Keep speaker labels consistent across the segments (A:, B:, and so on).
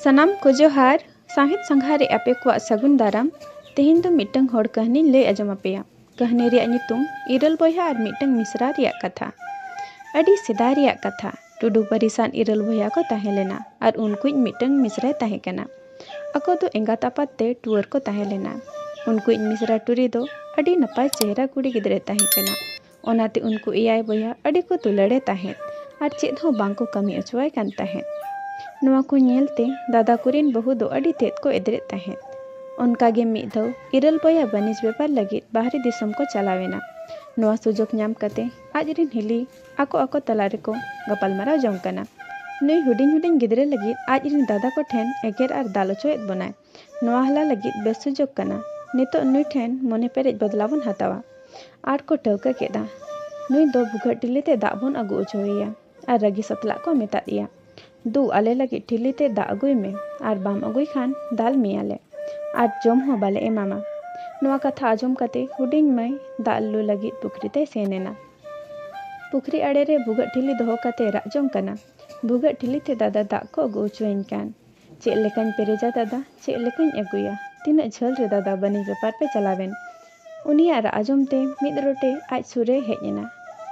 A: ᱥᱟᱱᱟᱢ ᱠᱚ ᱡᱚᱦᱟᱨ ᱥᱟᱶᱦᱮᱫ ᱥᱟᱸᱜᱷᱟᱨ ᱨᱮ ᱟᱯᱮ ᱠᱚᱣᱟᱜ ᱥᱟᱹᱜᱩᱱ ᱫᱟᱨᱟᱢ ᱛᱮᱦᱮᱧ ᱫᱚ ᱢᱤᱫᱴᱟᱝ ᱦᱚᱲ ᱠᱟᱹᱦᱱᱤᱧ ᱞᱟᱹᱭ ᱟᱸᱡᱚᱢ ᱟᱯᱮᱭᱟ ᱠᱟᱹᱦᱱᱤ ᱨᱮᱭᱟᱜ ᱧᱩᱛᱩᱢ ᱤᱨᱟᱹᱞ ᱵᱚᱭᱦᱟ ᱟᱨ ᱢᱤᱫᱴᱟᱝ ᱢᱤᱥᱨᱟ ᱨᱮᱭᱟᱜ ᱠᱟᱛᱷᱟ ᱟᱹᱰᱤ ᱥᱮᱫᱟᱭ ᱨᱮᱭᱟᱜ ᱠᱟᱛᱷᱟ ᱴᱩᱰᱩ ᱯᱟᱹᱨᱤᱥᱟᱱ ᱤᱨᱟᱹᱞ ᱵᱚᱭᱦᱟ ᱠᱚ ᱛᱟᱦᱮᱸ ᱞᱮᱱᱟ ᱟᱨ ᱩᱱᱠᱩᱭᱤᱡ ᱢᱤᱫᱴᱟᱝ ᱢᱤᱥᱨᱟᱭ ᱛᱟᱦᱮᱸ ᱠᱟᱱᱟ ᱟᱠᱚ ᱫᱚ ᱮᱸᱜᱟᱛ ᱟᱯᱟᱛ ᱛᱮ ᱴᱩᱣᱟᱹᱨ ᱠᱚ ᱛᱟᱦᱮᱸ ᱞᱮᱱᱟ᱾ ᱩᱱᱠᱩᱭᱤᱡ ᱢᱤᱥᱨᱟ ᱴᱩᱨᱤ ᱫᱚ ᱟᱹᱰᱤ ᱱᱟᱯᱟᱭ ᱪᱮᱦᱨᱟ ᱠᱩᱲᱤ ᱜᱤᱫᱽᱨᱟᱹᱭ ᱛᱟᱦᱮᱸ ᱠᱟᱱᱟ᱾ ᱚᱱᱟᱛᱮ ᱩᱱᱠᱩ ᱮᱭᱟᱭ ᱵᱚᱭᱦᱟ ᱟᱹᱰᱤ ᱠᱚ ᱫᱩᱞᱟᱹᱲᱮ ᱛᱟᱦᱮᱸᱫ ᱟᱨ ᱪᱮᱫ ᱦᱚᱸ ᱵᱟᱝ ᱠᱚ ᱠᱟᱹᱢᱤ ᱚᱪᱚᱣᱟᱭ ᱠᱟᱱ ᱛᱟᱦᱮᱸᱫ᱾ ᱱᱚᱶᱟ ᱠᱚ ᱧᱮᱞ ᱛᱮ ᱫᱟᱫᱟ ᱠᱚᱨᱤᱱ ᱵᱟᱹᱦᱩ ᱫᱚ ᱟᱹᱰᱤ ᱛᱮᱫ ᱠᱚ ᱮᱫᱽᱨᱮᱜ ᱛᱟᱦᱮᱸᱫ᱾ ᱚᱱᱠᱟ ᱜᱮ ᱢᱤᱫ ᱫᱷᱟᱣ ᱤᱨᱟᱹᱞ ᱵᱚᱭᱦᱟ ᱵᱟᱹᱱᱤᱡᱽ ᱵᱮᱯᱟᱨ ᱞᱟᱹᱜᱤᱫ ᱵᱟᱦᱨᱮ ᱫᱤᱥᱚᱢ ᱠᱚ ᱪᱟᱞᱟᱣ ᱮᱱᱟ᱾ ᱱᱚᱶᱟ ᱥᱩᱡᱚᱜᱽ ᱧᱟᱢ ᱠᱟᱛᱮ ᱟᱡ ᱨᱤᱱ ᱦᱤᱞᱤ᱾ ᱟᱠᱚ ᱟᱠᱚ ᱛᱟᱞᱟ ᱨᱮᱠᱚ ᱜᱟᱯᱟᱞᱢᱟᱨᱟᱣ ᱡᱚᱝ ᱠᱟᱱᱟ᱾ ᱱᱩᱭ ᱦᱩᱰᱤᱧ ᱦᱩᱰᱤᱧ ᱜᱤᱫᱽᱨᱟᱹ ᱞᱟᱹᱜᱤᱫ ᱟᱡ ᱨᱤᱱ ᱫᱟᱫᱟ ᱠᱚ ᱴᱷᱮᱱ ᱮᱜᱮᱨ ᱟᱨ ᱫᱟᱞ ᱚᱪᱚᱭᱮᱫ ᱵᱚᱱᱟᱭ᱾ ᱱᱚᱶᱟ ᱦᱟᱞᱟ ᱞᱟᱹᱜᱤᱫ ᱵᱮᱥ ᱥᱩᱡᱚᱜᱽ ᱠᱟᱱᱟ᱾ ᱱᱤᱛᱚᱜ ᱱᱩᱭ ᱴᱷᱮᱱ ᱢᱚᱱᱮ ᱯᱮᱨᱮᱡ ᱵᱚᱫᱽᱞᱟ ᱵᱚᱱ ᱦᱟᱛᱟᱣᱟ᱾ ᱟᱨ ᱠᱚ ᱴᱷᱟᱹᱣᱠᱟᱹ ᱠᱮᱫᱼᱟ᱾ ᱱᱩᱭ ᱫᱚ ᱵᱷᱩᱜᱟᱹᱜ ᱴᱤᱞᱤ ᱛᱮ ᱫᱟᱜ ᱵᱚᱱ ᱟᱹᱜᱩ ᱚᱪᱚ ᱟᱭᱟ᱾ ᱟᱨ ᱨᱟᱹᱜᱤ ᱥᱟᱛᱞᱟᱜ ᱠᱚ ᱢᱮᱛᱟᱫ ᱮᱭᱟ᱾ ᱫᱩ ᱟᱞᱮ ᱞᱟᱹᱜᱤᱫ ᱴᱷᱤᱞᱤ ᱛᱮ ᱫᱟᱜ ᱟᱹᱜᱩᱭ ᱢᱮ ᱟᱨ ᱵᱟᱢ ᱟᱹᱜᱩᱭ ᱠᱷᱟᱱ ᱫᱟᱞ ᱢᱮᱭᱟ ᱞᱮ ᱟᱨ ᱡᱚᱢ ᱦᱚᱸ ᱵᱟᱞᱮ ᱮᱢᱟᱢᱟ᱾ ᱱᱚᱣᱟ ᱠᱟᱛᱷᱟ ᱟᱸᱡᱚᱢ ᱠᱟᱛᱮ ᱦᱩᱰᱤᱧ ᱢᱟᱹᱭ ᱫᱟᱜ ᱞᱩ ᱞᱟᱹᱜᱤᱫ ᱯᱩᱠᱷᱨᱤ ᱛᱮᱭ ᱥᱮᱱ ᱮᱱᱟ᱾ ᱯᱩᱠᱷᱨᱤ ᱟᱲᱮ ᱨᱮ ᱵᱷᱩᱜᱟᱹᱜ ᱴᱷᱤᱞᱤ ᱫᱚᱦᱚ ᱠᱟᱛᱮᱭ ᱨᱟᱜ ᱡᱚᱝ ᱠᱟᱱᱟ, ᱵᱷᱩᱜᱟᱹᱜ ᱴᱷᱤᱞᱤ ᱛᱮ ᱫᱟᱫᱟ ᱫᱟᱜ ᱠᱚ ᱟᱹᱜᱩ ᱚᱪᱚ ᱟᱹᱧ ᱠᱟᱱ᱾ ᱪᱮᱫ ᱞᱮᱠᱟᱧ ᱯᱮᱨᱮᱡᱟ ᱫᱟᱫᱟ ᱪᱮᱫ ᱞᱮᱠᱟᱧ ᱟᱹᱜᱩᱭᱟ ᱛᱤᱱᱟᱹᱜ ᱡᱷᱟᱹᱞ ᱨᱮ ᱫᱟᱫᱟ ᱵᱟᱹᱱᱤᱡᱽ ᱵᱮᱯᱟᱨ ᱯᱮ ᱪᱟᱞᱟᱣᱮᱱ᱾ ᱩᱱᱤᱭᱟᱜ ᱨᱟᱜ ᱟᱸᱡᱚᱢ ᱛᱮ ᱢᱤᱫ ᱨᱚᱴᱮ ᱟᱡ ᱥᱩᱨ ᱨᱮᱭ ᱦᱮᱡ ᱮᱱᱟ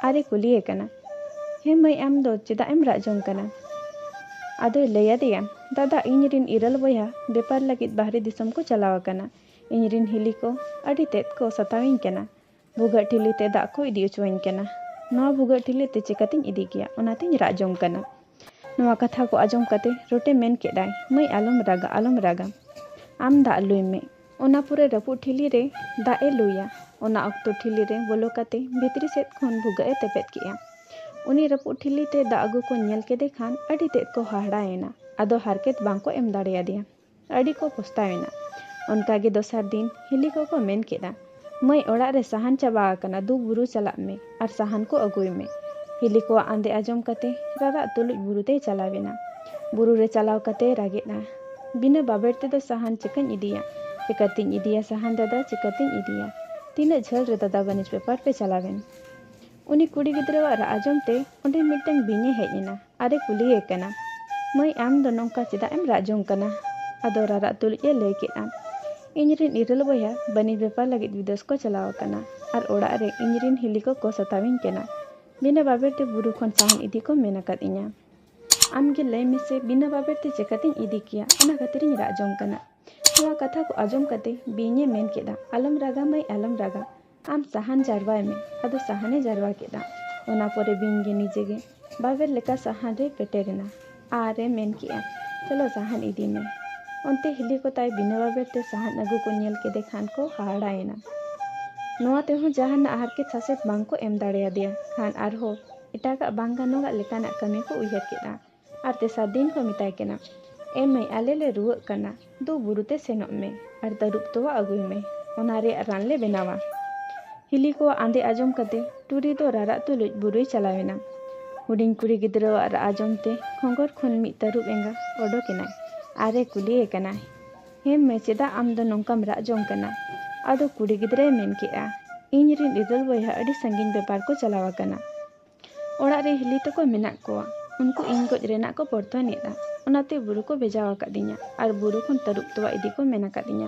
A: ᱟᱨ ᱮ ᱠᱩᱞᱤᱭᱮ ᱠᱟᱱᱟ ᱦᱮᱸ ᱢᱟᱹᱭ ᱟᱢ ᱫᱚ ᱪᱮᱫᱟᱜ ᱮᱢ ᱨᱟᱜ ᱡᱚᱝ ᱠᱟᱱᱟ᱾ ᱟᱫᱚᱭ ᱞᱟᱹᱭ ᱟᱫᱮᱭᱟ ᱫᱟᱫᱟ ᱤᱧ ᱨᱤᱱ ᱤᱨᱟᱹᱞ ᱵᱚᱭᱦᱟ ᱵᱮᱯᱟᱨ ᱞᱟᱹᱜᱤᱫ ᱵᱟᱦᱨᱮ ᱫᱤᱥᱚᱢ ᱠᱚ ᱪᱟᱞᱟᱣ ᱟᱠᱟᱱᱟ ᱤᱧ ᱨᱤᱱ ᱦᱤᱞᱤ ᱠᱚ ᱟᱹᱰᱤ ᱛᱮᱫ ᱠᱚ ᱥᱟᱛᱟᱣ ᱤᱧ ᱠᱟᱱᱟ᱾ ᱵᱷᱩᱜᱟᱹᱜ ᱴᱷᱤᱞᱤ ᱛᱮ ᱫᱟᱜ ᱠᱚ ᱤᱫᱤ ᱚᱪᱚᱣᱟᱹᱧ ᱠᱟᱱᱟ᱾ ᱱᱚᱣᱟ ᱵᱷᱩᱜᱟᱹᱜ ᱴᱷᱤᱞᱤ ᱛᱮ ᱪᱮᱠᱟᱛᱮᱧ ᱤᱫᱤ ᱜᱮᱭᱟ ᱚᱱᱟ ᱛᱮᱧ ᱨᱟᱜ ᱡᱚᱝ ᱠᱟᱱᱟ᱾ ᱱᱚᱣᱟ ᱠᱟᱛᱷᱟ ᱠᱚ ᱟᱸᱡᱚᱢ ᱠᱟᱛᱮ ᱨᱚᱴᱮ ᱢᱮᱱ ᱠᱮᱫ ᱟᱭ ᱢᱟᱹᱭ ᱟᱞᱚᱢ ᱨᱟᱜᱟ ᱟᱞᱚᱢ ᱨᱟᱜᱟ᱾ ᱟᱢ ᱫᱟᱜ ᱞᱩᱭ ᱢᱮ᱾ ᱚᱱᱟ ᱯᱚᱨᱮ ᱨᱟᱹᱯᱩᱫ ᱴᱷᱤᱞᱤ ᱨᱮ ᱫᱟᱜ ᱮ ᱞᱩᱭᱟ᱾ ᱚᱱᱟ ᱚᱠᱛᱚ ᱴᱷᱤᱞᱤ ᱨᱮ ᱵᱚᱞᱚ ᱠᱟᱛᱮ ᱵᱷᱤᱛᱨᱤ ᱥᱮᱫ ᱠᱷᱚᱱ ᱵᱷᱩᱜᱟᱹᱜ ᱮ ᱛᱮᱯᱮᱫ ᱠᱮᱫᱼᱟ᱾ ᱩᱱᱤ ᱨᱟᱹᱯᱩᱫ ᱴᱷᱤᱞᱤ ᱛᱮ ᱫᱟᱜ ᱟᱹᱜᱩ ᱠᱚ ᱧᱮᱞ ᱠᱮᱫᱮ ᱠᱷᱟᱱ ᱟᱹᱰᱤ ᱛᱮᱫ ᱠᱚ ᱦᱟᱦᱟᱲᱟ ᱮᱱᱟ᱾ ᱟᱫᱚ ᱦᱟᱨᱠᱮᱛ ᱵᱟᱝ ᱠᱚ ᱮᱢ ᱫᱟᱲᱮᱭᱟᱫᱮᱭᱟ᱾ ᱟᱹᱰᱤ ᱠᱚ ᱯᱚᱥᱛᱟᱣ ᱮᱱᱟ᱾ ᱚᱱᱠᱟ ᱜᱮ ᱫᱚᱥᱟᱨ ᱫᱤᱱ ᱦᱤᱞᱤ ᱠᱚ ᱠᱚ ᱢᱮᱱ ᱠᱮᱫᱼᱟ, ᱢᱟᱹᱭ ᱚᱲᱟᱜ ᱨᱮ ᱥᱟᱦᱟᱱ ᱪᱟᱵᱟ ᱟᱠᱟᱱᱟ ᱫᱩ ᱵᱩᱨᱩ ᱪᱟᱞᱟᱜ ᱢᱮ ᱟᱨ ᱥᱟᱦᱟᱱ ᱠᱚ ᱟᱹᱜᱩᱭ ᱢᱮ᱾ ᱦᱤᱞᱤ ᱠᱚᱣᱟᱜ ᱟᱸᱫᱮ ᱟᱸᱡᱚᱢ ᱠᱟᱛᱮ ᱨᱟᱨᱟᱜ ᱛᱩᱞᱩᱡ ᱵᱩᱨᱩ ᱛᱮᱭ ᱪᱟᱞᱟᱣ ᱮᱱᱟ᱾ ᱵᱩᱨᱩ ᱨᱮ ᱪᱟᱞᱟᱣ ᱠᱟᱛᱮᱭ ᱨᱟᱜᱮᱫᱼᱟ, ᱵᱤᱱᱟᱹ ᱵᱟᱵᱮᱨ ᱛᱮᱫᱚ ᱥᱟᱦᱟᱱ ᱪᱮᱠᱟᱹᱧ ᱤᱫᱤᱭᱟ, ᱪᱮᱠᱟ ᱛᱤᱧ ᱤᱫᱤᱭᱟ ᱥᱟᱦᱟᱱ ᱫᱟᱫᱟ ᱪᱮᱠᱟ ᱛᱤᱧ ᱤᱫᱤᱭᱟ᱾ ᱛᱤᱱᱟᱹᱜ ᱡᱷᱟᱹᱞ ᱨᱮ ᱫᱟᱫᱟ ᱵᱟᱹᱱᱤᱡᱽ ᱵᱮᱯᱟᱨ ᱯᱮ ᱪᱟᱞᱟᱣ ᱮᱱ᱾ ᱩᱱᱤ ᱠᱩᱲᱤ ᱜᱤᱫᱽᱨᱟᱹᱣᱟᱜ ᱨᱟᱜ ᱟᱸᱡᱚᱢ ᱛᱮ ᱚᱸᱰᱮ ᱢᱤᱫᱴᱟᱹᱝ ᱵᱤᱧ ᱮ ᱦᱮᱡ ᱮᱱᱟ᱾ ᱟᱨ ᱮ ᱠᱩᱞᱤ ᱮ ᱠᱟᱱᱟ, ᱢᱟᱹᱭ ᱟᱢ ᱫᱚ ᱱᱚᱝᱠᱟ ᱪᱮᱫᱟᱜ ᱮᱢ ᱨᱟᱜ ᱡᱚᱝ ᱠᱟᱱᱟ? ᱟᱫᱚ ᱨᱟᱨᱟᱜ ᱛᱩᱞᱩᱡ ᱮ ᱞᱟᱹᱭ ᱠᱮᱫᱼᱟ, ᱤᱧ ᱨᱤᱱ ᱤᱨᱟᱹᱞ ᱵᱚᱭᱦᱟ ᱵᱟᱹᱱᱤᱡᱽ ᱵᱮᱯᱟᱨ ᱞᱟᱹᱜᱤᱫ ᱵᱤᱫᱮᱥ ᱠᱚ ᱪᱟᱞᱟᱣ ᱟᱠᱟᱱᱟ ᱟᱨ ᱚᱲᱟᱜ ᱨᱮ ᱤᱧ ᱨᱤᱱ ᱦᱤᱞᱤ ᱠᱚ ᱠᱚ ᱥᱟᱛᱟᱣ ᱤᱧ ᱠᱟᱱᱟ᱾ ᱵᱤᱱᱟᱹ ᱵᱟᱵᱮᱨ ᱛᱮ ᱵᱩᱨᱩ ᱠᱷᱚᱱ ᱥᱟᱦᱟᱱ ᱤᱫᱤ ᱠᱚ ᱢᱮᱱ ᱟᱠᱟᱫ ᱤᱧᱟ᱾ ᱟᱢ ᱜᱮ ᱞᱟᱹᱭ ᱢᱮᱥᱮ ᱵᱤᱱᱟᱹ ᱵᱟᱵᱮᱨ ᱛᱮ ᱪᱮᱠᱟ ᱛᱮᱧ ᱤᱫᱤ ᱠᱮᱭᱟ ᱚᱱᱟ ᱠᱷᱟᱹᱛᱤᱨ ᱤᱧ ᱨᱟᱜ ᱡᱚᱝ ᱠᱟᱱᱟ᱾ ᱱᱚᱶᱟ ᱠᱟᱛᱷᱟ ᱠᱚ ᱟᱸᱡᱚᱢ ᱠᱟᱛᱮ ᱵᱤᱧ ᱮ ᱢᱮᱱ ᱠᱮᱫᱼᱟ, ᱟᱞᱚᱢ ᱨᱟᱜᱟ ᱢᱟᱹᱭ ᱟᱞᱚᱢ ᱨᱟᱜᱟ᱾ ᱟᱢ ᱥᱟᱦᱟᱱ ᱡᱟᱨᱣᱟᱭ ᱢᱮ ᱟᱫᱚ ᱥᱟᱦᱟᱱᱮ ᱡᱟᱨᱣᱟ ᱠᱮᱫᱟ ᱚᱱᱟ ᱯᱚᱨᱮ ᱵᱤᱧ ᱜᱮ ᱱᱤᱡᱮ ᱜᱮ ᱵᱟᱵᱮᱨ ᱞᱮᱠᱟ ᱥᱟᱦᱟᱱ ᱨᱮ ᱯᱮᱴᱮᱨ ᱮᱱᱟ ᱟᱨ ᱮ ᱢᱮᱱ ᱠᱮᱫᱼᱟ ᱪᱚᱞᱚ ᱥᱟᱦᱟᱱ ᱤᱫᱤ ᱢᱮ ᱚᱱᱛᱮ ᱦᱤᱞᱤ ᱠᱚ ᱛᱟᱭ ᱵᱤᱱᱟᱹ ᱵᱟᱵᱮᱨ ᱛᱮ ᱥᱟᱦᱟᱱ ᱟᱹᱜᱩ ᱠᱚ ᱧᱮᱞ ᱠᱮᱫᱮ ᱠᱷᱟᱱ ᱠᱚ ᱦᱟᱦᱟᱲᱟᱭᱮᱱᱟ ᱱᱚᱣᱟ ᱛᱮᱦᱚᱸ ᱡᱟᱦᱟᱱᱟᱜ ᱦᱟᱨᱠᱮᱛ ᱥᱟᱥᱮᱛ ᱵᱟᱝ ᱠᱚ ᱮᱢ ᱫᱟᱲᱮᱭᱟᱫᱮᱭᱟ ᱠᱷᱟᱱ ᱟᱨᱦᱚᱸ ᱮᱴᱟᱜᱟᱜ ᱵᱟᱝ ᱜᱟᱱᱚᱜᱟᱜ ᱞᱮᱠᱟᱱᱟᱜ ᱠᱟᱹᱢᱤ ᱠᱚ ᱩᱭᱦᱟᱹᱨ ᱠᱮᱫᱼᱟ ᱟᱨ ᱛᱮᱥᱟᱨ ᱫᱤᱱ ᱠᱚ ᱢᱮᱛᱟᱭ ᱠᱟᱱᱟ, ᱮ ᱢᱟᱹᱭ ᱟᱞᱮ ᱞᱮ ᱨᱩᱣᱟᱹᱜ ᱠᱟᱱᱟ, ᱫᱩ ᱵᱩᱨᱩ ᱛᱮ ᱥᱮᱱᱚᱜ ᱢᱮ ᱟᱨ ᱛᱟᱹᱨᱩᱵ ᱛᱚᱣᱟ ᱟᱹᱜᱩᱭ ᱢᱮ, ᱚᱱᱟ ᱨᱮᱭᱟᱜ ᱨᱟᱱ ᱞᱮ ᱵᱮᱱᱟᱣᱟ᱾ ᱦᱤᱞᱤ ᱠᱚᱣᱟᱜ ᱟᱸᱫᱮ ᱟᱸᱡᱚᱢ ᱠᱟᱛᱮ ᱴᱩᱨᱤ ᱫᱚ ᱨᱟᱨᱟᱜ ᱛᱩᱞᱩᱡ ᱵᱩᱨᱩᱭ ᱪᱟᱞᱟᱣ ᱮᱱᱟ᱾ ᱦᱩᱰᱤᱧ ᱠᱩᱲᱤ ᱜᱤᱫᱽᱨᱟᱹᱣᱟᱜ ᱨᱟᱜ ᱟᱸᱡᱚᱢ ᱛᱮ ᱠᱷᱚᱸᱜᱚᱨ ᱠᱷᱚᱱ ᱢᱤᱫ ᱛᱟᱹᱨᱩᱵ ᱮᱸᱜᱟ ᱚᱰᱚᱠ ᱮᱱᱟᱭ ᱟᱨ ᱮ ᱠᱩᱞᱤ ᱮ ᱠᱟᱱᱟ, ᱦᱮ ᱢᱟᱹᱭ ᱪᱮᱫᱟᱜ ᱟᱢ ᱫᱚ ᱱᱚᱝᱠᱟᱢ ᱨᱟᱜ ᱡᱚᱝ ᱠᱟᱱᱟ? ᱟᱫᱚ ᱠᱩᱲᱤ ᱜᱤᱫᱽᱨᱟᱹᱭ ᱢᱮᱱ ᱠᱮᱫᱼᱟ, ᱤᱧ ᱨᱤᱱ ᱤᱨᱟᱹᱞ ᱵᱚᱭᱦᱟ ᱟᱹᱰᱤ ᱥᱟᱺᱜᱤᱧ ᱵᱮᱯᱟᱨ ᱠᱚ ᱪᱟᱞᱟᱣ ᱟᱠᱟᱱᱟ᱾ ᱚᱲᱟᱜ ᱨᱮ ᱦᱤᱞᱤ ᱛᱟᱠᱚ ᱢᱮᱱᱟᱜ ᱠᱚᱣᱟ᱾ ᱩᱱᱠᱩ ᱤᱧ ᱜᱚᱡ ᱨᱮᱱᱟᱜ ᱠᱚ ᱯᱚᱨᱛᱷᱚᱱ ᱮᱫᱼᱟ᱾ ᱚᱱᱟᱛᱮ ᱵᱩᱨᱩ ᱠᱚ ᱵᱷᱮᱡᱟ ᱟᱠᱟᱫᱤᱧᱟ ᱟᱨ ᱵᱩᱨᱩ ᱠᱷᱚᱱ ᱛᱟᱹᱨᱩᱵ ᱛᱚᱣᱟ ᱤᱫᱤ ᱠᱚ ᱢᱮᱱ ᱟᱠᱟᱫᱤᱧᱟ᱾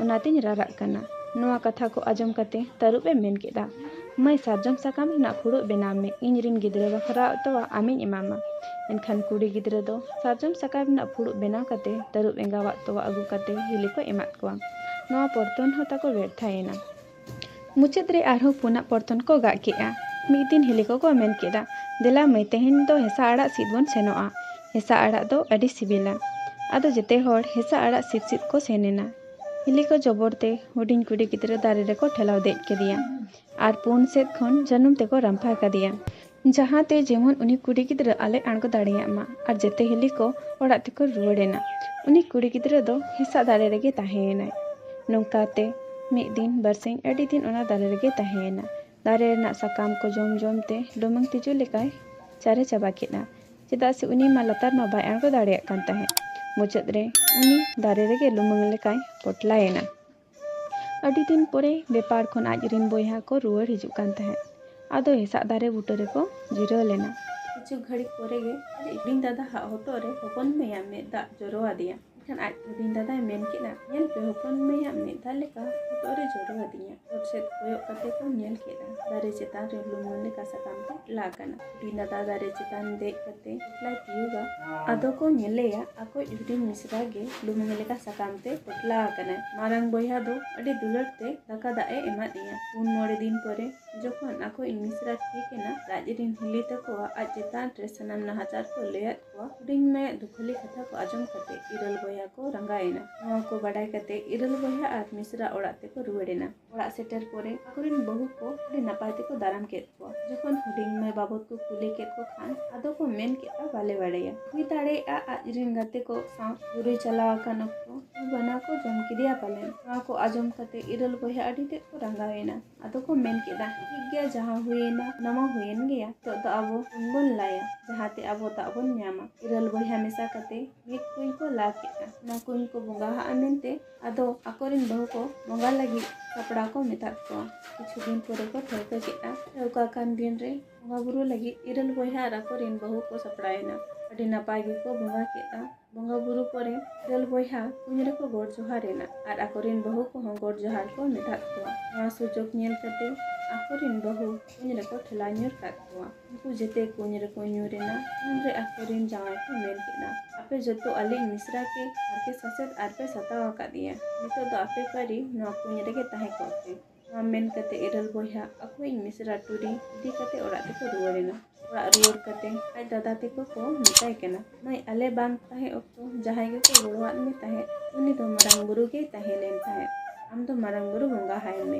A: ᱚᱱᱟᱛᱮᱧ ᱨᱟᱨᱟᱜ ᱠᱟᱱᱟ᱾ ᱱᱚᱶᱟ ᱠᱟᱛᱷᱟ ᱠᱚ ᱟᱸᱡᱚᱢ ᱠᱟᱛᱮ ᱛᱟᱹᱨᱩᱵ ᱮ ᱢᱮᱱ ᱠᱮᱫᱼᱟ, ᱢᱟᱹᱭ ᱥᱟᱨᱡᱚᱢ ᱥᱟᱠᱟᱢ ᱨᱮᱱᱟᱜ ᱯᱷᱩᱲᱩᱜ ᱵᱮᱱᱟᱣ ᱢᱮ᱾ ᱤᱧ ᱨᱤᱱ ᱜᱤᱫᱽᱨᱟᱹ ᱵᱟᱠᱷᱨᱟ ᱟᱜ ᱛᱚᱣᱟ ᱟᱢᱤᱧ ᱮᱢᱟᱢᱟ᱾ ᱮᱱᱠᱷᱟᱱ ᱠᱩᱲᱤ ᱜᱤᱫᱽᱨᱟᱹ ᱫᱚ ᱥᱟᱨᱡᱚᱢ ᱥᱟᱠᱟᱢ ᱨᱮᱱᱟᱜ ᱯᱷᱩᱲᱩᱜ ᱵᱮᱱᱟᱣ ᱠᱟᱛᱮ ᱛᱟᱹᱨᱩᱵ ᱮᱸᱜᱟᱣᱟᱜ ᱛᱚᱣᱟ ᱟᱹᱜᱩ ᱠᱟᱛᱮ ᱦᱤᱞᱤ ᱠᱚᱭ ᱮᱢᱟᱫ ᱠᱚᱣᱟ᱾ ᱱᱚᱶᱟ ᱯᱚᱨᱛᱷᱚᱱ ᱦᱚᱸ ᱛᱟᱠᱚ ᱵᱮᱨᱛᱷᱟ ᱮᱱᱟ᱾ ᱢᱩᱪᱟᱹᱫ ᱨᱮ ᱟᱨᱦᱚᱸ ᱯᱩᱱᱟᱜ ᱯᱚᱨᱛᱚᱱ ᱠᱚ ᱜᱟᱜ ᱠᱮᱫᱼᱟ᱾ ᱢᱤᱫ ᱫᱤᱱ ᱦᱤᱞᱤ ᱠᱚᱠᱚ ᱢᱮᱱ ᱠᱮᱫᱼᱟ, ᱫᱮᱞᱟ ᱢᱟᱹᱭ ᱛᱮᱦᱮᱧ ᱫᱚ ᱦᱮᱸᱥᱟᱜ ᱟᱲᱟᱜ ᱥᱤᱫ ᱵᱚᱱ ᱥᱮᱱᱚᱜᱼᱟ᱾ ᱦᱮᱸᱥᱟᱜ ᱟᱲᱟᱜ ᱫᱚ ᱟᱹᱰᱤ ᱥᱤᱵᱤᱞᱟ᱾ ᱟᱫᱚ ᱡᱮᱛᱮ ᱦᱚᱲ ᱦᱮᱸᱥᱟᱜ ᱟᱲᱟᱜ ᱥᱤᱫ ᱥᱤᱫ ᱠᱚ ᱥᱮᱱ ᱮᱱᱟ᱾ ᱦᱤᱞᱤ ᱠᱚ ᱡᱚᱵᱚᱨ ᱛᱮ ᱦᱩᱰᱤᱧ ᱠᱩᱲᱤ ᱜᱤᱫᱽᱨᱟᱹ ᱫᱟᱨᱮ ᱨᱮᱠᱚ ᱴᱷᱮᱞᱟᱣ ᱫᱮᱡ ᱠᱮᱫᱮᱭᱟ ᱟᱨ ᱯᱩᱱ ᱥᱮᱫ ᱠᱷᱚᱱ ᱡᱟᱹᱱᱩᱢ ᱛᱮᱠᱚ ᱨᱟᱢᱯᱷᱟ ᱠᱟᱫᱮᱭᱟ᱾ ᱡᱟᱦᱟᱸ ᱛᱮ ᱡᱮᱢᱚᱱ ᱩᱱᱤ ᱠᱩᱲᱤ ᱜᱤᱫᱽᱨᱟᱹ ᱟᱞᱮ ᱟᱬᱜᱚ ᱫᱟᱲᱮᱭᱟᱜ ᱢᱟ ᱟᱨ ᱡᱮᱛᱮ ᱦᱤᱞᱤ ᱠᱚ ᱚᱲᱟᱜ ᱛᱮᱠᱚ ᱨᱩᱣᱟᱹᱲ ᱮᱱᱟ᱾ ᱩᱱᱤ ᱠᱩᱲᱤ ᱜᱤᱫᱽᱨᱟᱹ ᱫᱚ ᱦᱮᱸᱥᱟᱜ ᱫᱟᱨᱮ ᱨᱮᱜᱮ ᱛᱟᱦᱮᱸ ᱮᱱᱟᱭ᱾ ᱱᱚᱝᱠᱟ ᱛᱮ ᱢᱤᱫ ᱫᱤᱱ ᱵᱟᱹᱨᱥᱤᱧ ᱟᱹᱰᱤ ᱫᱤᱱ ᱚᱱᱟ ᱫᱟᱨᱮ ᱨᱮᱜᱮᱭ ᱛᱟᱦᱮᱸ ᱮᱱᱟ᱾ ᱫᱟᱨᱮ ᱨᱮᱱᱟᱜ ᱥᱟᱠᱟᱢ ᱠᱚ ᱡᱚᱢ ᱡᱚᱢ ᱛᱮ ᱞᱩᱢᱟᱹᱝ ᱛᱤᱡᱩ ᱞᱮᱠᱟᱭ ᱪᱟᱨᱮ ᱪᱟᱵᱟ ᱠᱮᱫᱼᱟ᱾ ᱪᱮᱫᱟᱜ ᱥᱮ ᱩᱱᱤ ᱢᱟ ᱞᱟᱛᱟᱨ ᱢᱟ ᱵᱟᱭ ᱟᱬᱜᱚ ᱫᱟᱲᱮᱭᱟᱜ ᱠᱟᱱ ᱛᱟᱦᱮᱸᱫ᱾ ᱢᱩᱪᱟᱹᱫ ᱨᱮ ᱩᱱᱤ ᱫᱟᱨᱮ ᱨᱮᱜᱮ ᱞᱩᱢᱟᱹᱝ ᱞᱮᱠᱟᱭ ᱯᱚᱴᱞᱟ ᱮᱱᱟ᱾ ᱟᱹᱰᱤ ᱫᱤᱱ ᱯᱚᱨᱮ ᱵᱮᱯᱟᱲ ᱠᱷᱚᱱ ᱟᱡ ᱨᱤᱱ ᱵᱚᱭᱦᱟ ᱠᱚ ᱨᱩᱣᱟᱹᱲ ᱦᱤᱡᱩᱜ ᱠᱟᱱ ᱛᱟᱦᱮᱸᱫ᱾ ᱟᱫᱚ ᱦᱮᱥᱟᱜ ᱫᱟᱨᱮ ᱵᱩᱴᱟᱹ ᱨᱮᱠᱚ ᱡᱤᱨᱟᱹᱣ ᱞᱮᱱᱟ᱾ ᱠᱤᱪᱷᱩ ᱜᱷᱟᱹᱲᱤᱠ ᱯᱚᱨᱮ ᱜᱮ ᱟᱡ ᱦᱩᱰᱤᱧ ᱫᱟᱫᱟ ᱦᱟᱜ ᱦᱚᱴᱚᱜ ᱨᱮ ᱦᱚᱯᱚᱱ ᱢᱟᱹᱭ ᱟᱜ ᱢᱮᱫ ᱫᱟᱜ ᱡᱚᱨᱚ ᱟᱫᱮᱭᱟ᱾ ᱮᱱᱠᱷᱟᱱ ᱟᱡ ᱦᱩᱰᱤᱧ ᱫᱟᱫᱟᱭ ᱢᱮᱱ ᱠᱮᱫᱼᱟ, ᱧᱮᱞ ᱯᱮ ᱦᱚᱯᱚᱱ ᱢᱟᱹᱭ ᱟᱜ ᱢᱮᱫ ᱫᱟᱜ ᱞᱮᱠᱟ ᱦᱚᱴᱚᱜ ᱨᱮ ᱡᱚᱨᱚ ᱟᱫᱤᱧᱟ᱾ ᱚᱛ ᱥᱮᱫ ᱠᱚᱭᱚᱜ ᱠᱟᱛᱮ ᱠᱚ ᱧᱮᱞ ᱠᱮᱫᱼᱟ ᱫᱟᱨᱮ ᱪᱮᱛᱟᱱ ᱨᱮ ᱞᱩᱢᱟᱹᱝ ᱞᱮᱠᱟ ᱥᱟᱠᱟᱢ ᱛᱮ ᱞᱟ ᱟᱠᱟᱱᱟ᱾ ᱫᱟᱫᱟ ᱫᱟᱨᱮ ᱪᱮᱛᱟᱱ ᱫᱮᱡ ᱠᱟᱛᱮ ᱯᱚᱴᱞᱟᱭ ᱛᱤᱭᱩᱜᱟ ᱟᱫᱚ ᱠᱚ ᱧᱮᱞᱮᱭᱟ ᱟᱠᱚᱭᱤᱡ ᱦᱩᱰᱤᱧ ᱢᱤᱥᱨᱟ ᱜᱮ ᱞᱩᱢᱟᱹᱝ ᱞᱮᱠᱟ ᱥᱟᱠᱟᱢ ᱛᱮ ᱯᱚᱴᱞᱟ ᱟᱠᱟᱱᱟᱭ ᱢᱟᱨᱟᱝ ᱵᱚᱭᱦᱟ ᱫᱚ ᱟᱹᱰᱤ ᱫᱩᱞᱟᱹᱲ ᱛᱮ ᱫᱟᱠᱟ ᱫᱟᱜ ᱮ ᱮᱢᱟ ᱫᱮᱭᱟ ᱯᱩᱱ ᱢᱚᱬᱮ ᱫᱤᱱ ᱯᱚᱨᱮ ᱡᱚᱠᱷᱚᱱ ᱟᱠᱚᱭᱤᱡ ᱢᱤᱥᱨᱟ ᱴᱷᱤᱠ ᱮᱱᱟ ᱨᱟᱡᱽ ᱨᱤᱱ ᱦᱤᱞᱤ ᱛᱟᱠᱚᱣᱟᱜ ᱟᱡ ᱪᱮᱛᱟᱱ ᱨᱮ ᱥᱟᱱᱟᱢ ᱱᱟᱦᱟᱪᱟᱨ ᱠᱚ ᱞᱟᱹᱭᱟᱫ ᱠᱚᱣᱟ ᱦᱩᱰᱤᱧ ᱢᱟᱹᱭᱟᱜ ᱫᱩᱠᱷᱟᱹᱞᱤ ᱠᱟᱛᱷᱟ ᱠᱚ ᱟᱸᱡᱚᱢ ᱠᱟᱛᱮ ᱤᱨᱟᱹᱞ ᱵᱚᱭᱦᱟ ᱠᱚ ᱨᱟᱸᱜᱟᱣ ᱮᱱᱟ ᱱᱚᱣᱟ ᱠᱚ ᱵᱟᱰᱟᱭ ᱠᱟᱛᱮ ᱤᱨᱟᱹᱞ ᱵᱚᱭᱦᱟ ᱟᱨ ᱢᱤᱥᱨᱟ ᱚᱲᱟᱜ ᱛᱮᱠᱚ ᱨᱩᱣᱟᱹᱲ ᱮᱱᱟ ᱚᱲᱟᱜ ᱥᱮᱴᱮᱨ ᱯᱚᱨᱮ ᱟᱠᱚ ᱨᱮᱱ ᱵᱟᱹᱦᱩ ᱠᱚ ᱟᱹᱰᱤ ᱱᱟᱯᱟᱭ ᱛᱮᱠᱚ ᱫᱟᱨᱟᱢ ᱠᱮᱫ ᱠᱚᱣᱟ ᱡᱚᱠᱷᱚᱱ ᱦᱩᱰᱤᱧ ᱢᱟᱹᱭ ᱵᱟᱵᱚᱫ ᱠᱚ ᱠᱩᱞᱤ ᱠᱮᱫ ᱠᱚ ᱠᱷᱟᱱ ᱟᱫᱚ ᱠᱚ ᱢᱮᱱ ᱠᱮᱫᱼᱟ ᱵᱟᱞᱮ ᱵᱟᱲᱟᱭᱟ ᱦᱩᱭ ᱫᱟᱲᱮᱭᱟᱜᱼᱟ ᱟᱡ ᱨᱮᱱ ᱜᱟᱛᱮ ᱠᱚ ᱥᱟᱶ ᱵᱩᱨᱩᱭ ᱪᱟᱞᱟᱣ ᱟᱠᱟᱱ ᱚᱠᱛᱚ ᱵᱟᱱᱟ ᱠᱚ ᱡᱚᱢ ᱠᱮᱫᱮᱭᱟ ᱯᱟᱞᱮᱱ ᱱᱚᱣᱟ ᱠᱚ ᱟᱸᱡᱚᱢ ᱠᱟᱛᱮ ᱤᱨᱟᱹᱞ ᱵᱚᱭᱦᱟ ᱟᱹᱰᱤ ᱛᱮᱫ ᱠᱚ ᱨᱟᱸᱜᱟᱣ ᱮᱱᱟ ᱟᱫᱚ ᱠᱚ ᱢᱮᱱ ᱠᱮᱫᱟ ᱴᱷᱤᱠ ᱜᱮᱭᱟ ᱡᱟᱦᱟᱸ ᱦᱩᱭᱮᱱᱟ ᱚᱱᱟ ᱢᱟ ᱦᱩᱭᱮᱱ ᱜᱮᱭᱟ ᱱᱤᱛᱚᱜ ᱫᱚ ᱟᱵᱚ ᱠᱩᱧ ᱵᱚᱱ ᱞᱟᱭᱟ ᱡᱟᱦᱟᱸᱛᱮ ᱟᱵᱚ ᱫᱟᱜ ᱵᱚᱱ ᱧᱟᱢᱟ ᱤᱨᱟᱹᱞ ᱵᱚᱭᱦᱟ ᱢᱮᱥᱟ ᱠᱟᱛᱮ ᱢᱤᱫ ᱠᱩᱧ ᱠᱚ ᱞᱟ ᱠᱮᱫᱼᱟ ᱚᱱᱟ ᱠᱩᱧ ᱠᱚ ᱵᱚᱸᱜᱟ ᱦᱟᱜᱼᱟ ᱢᱮᱱᱛᱮ ᱟᱫᱚ ᱟᱠᱚᱨᱮᱱ ᱵᱟᱹᱦᱩ ᱠᱚ ᱵᱚᱸᱜᱟ ᱞᱟᱹᱜᱤᱫ ᱥᱟᱯᱲᱟᱣ ᱠᱚ ᱢᱮᱛᱟᱫ ᱠᱚᱣᱟ ᱠᱤᱪᱷᱩ ᱫᱤᱱ ᱯᱚᱨᱮ ᱠᱚ ᱴᱷᱟᱹᱣᱠᱟᱹ ᱠᱮᱫᱼᱟ ᱴᱷᱟᱹᱣᱠᱟᱹ ᱟᱠᱟᱱ ᱫᱤᱱ ᱨᱮ ᱵᱚᱸᱜᱟ ᱵᱩᱨᱩ ᱞᱟᱹᱜᱤᱫ ᱤᱨᱟᱹᱞ ᱵᱚᱭᱦᱟ ᱟᱨ ᱟᱠᱚᱨᱮᱱ ᱵᱟᱹᱦᱩ ᱠᱚ ᱥᱟᱯᱲᱟᱣ ᱮᱱᱟ ᱟᱹᱰᱤ ᱱᱟᱯᱟᱭ ᱜᱮᱠᱚ ᱵᱚᱸᱜᱟ ᱠᱮᱫᱼᱟ ᱵᱚᱸᱜᱟ ᱵᱩᱨᱩ ᱯᱚᱨᱮ ᱤᱨᱟᱹᱞ ᱵᱚᱭᱦᱟ ᱠᱩᱧ ᱨᱮᱠᱚ ᱜᱚᱰ ᱡᱚᱦᱟᱨ ᱮᱱᱟ ᱟᱨ ᱟᱠᱚᱨᱮᱱ ᱵᱟᱹᱦᱩ ᱠᱚᱦᱚᱸ ᱜᱚᱰ ᱡᱚᱦᱟᱨ ᱠᱚ ᱢᱮᱛᱟᱫ ᱠᱚᱣᱟ ᱱᱚᱣᱟ ᱥᱩᱡᱳᱜᱽ ᱧᱮᱞ ᱠᱟᱛᱮ ᱟᱠᱚᱨᱮᱱ ᱵᱟᱹᱦᱩ ᱠᱩᱧ ᱨᱮᱠᱚ ᱴᱷᱮᱞᱟᱣ ᱧᱩᱨ ᱠᱟᱫ ᱠᱚᱣᱟ ᱩᱱᱠᱩ ᱡᱮᱛᱮ ᱠᱩᱧ ᱨᱮᱠᱚ ᱧᱩᱨ ᱮᱱᱟ ᱩᱱ ᱨᱮ ᱟᱠᱚ ᱨᱮᱱ ᱡᱟᱶᱟᱭ ᱠᱚ ᱢᱮᱱ ᱠᱮᱫᱟ ᱟᱯᱮ ᱡᱚᱛᱚ ᱟᱹᱞᱤᱧ ᱢᱤᱥᱨᱟ ᱜᱮ ᱦᱟᱨᱠᱮᱛ ᱥᱟᱥᱮᱛ ᱟᱨ ᱯᱮ ᱥᱟᱛᱟᱣ ᱟᱠᱟᱫᱮᱭᱟ ᱱᱤᱛᱚᱜ ᱫᱚ ᱟᱯᱮ ᱯᱟᱹᱨᱤ ᱱᱚᱣᱟ ᱠᱩᱧ ᱨᱮᱜᱮ ᱛᱟᱦᱮᱸ ᱠᱚᱜ ᱯᱮ ᱱᱚᱣᱟ ᱢᱮᱱ ᱠᱟᱛᱮ ᱤᱨᱟᱹᱞ ᱵᱚᱭᱦᱟ ᱟᱠᱚᱭᱤᱡ ᱢᱤᱥᱨᱟ ᱴᱩᱨᱤ ᱤᱫᱤ ᱠᱟᱛᱮ ᱚᱲᱟᱜ ᱛᱮᱠᱚ ᱨᱩᱣᱟᱹᱲ ᱮᱱᱟ ᱚᱲᱟᱜ ᱨᱩᱣᱟᱹᱲ ᱠᱟᱛᱮ ᱟᱡ ᱫᱟᱫᱟ ᱛᱮᱠᱚ ᱠᱚ ᱢᱮᱛᱟᱭ ᱠᱟᱱᱟ ᱢᱟᱹᱭ ᱟᱞᱮ ᱵᱟᱝ ᱛᱟᱦᱮᱸ ᱚᱠᱛᱚ ᱡᱟᱦᱟᱸᱭ ᱜᱮᱠᱚ ᱜᱚᱲᱚᱣᱟᱫ ᱢᱮ ᱛᱟᱦᱮᱸᱫ ᱩᱱᱤ ᱫᱚ ᱢᱟᱨᱟᱝ ᱵᱩᱨᱩ ᱜᱮᱭ ᱛᱟᱦᱮᱸ ᱞᱮᱱ ᱛᱟᱦᱮᱸᱫ ᱟᱢ ᱫᱚ ᱢᱟᱨᱟᱝ ᱵᱩᱨᱩ ᱵᱚᱸᱜᱟ ᱦᱟᱭ ᱢᱮ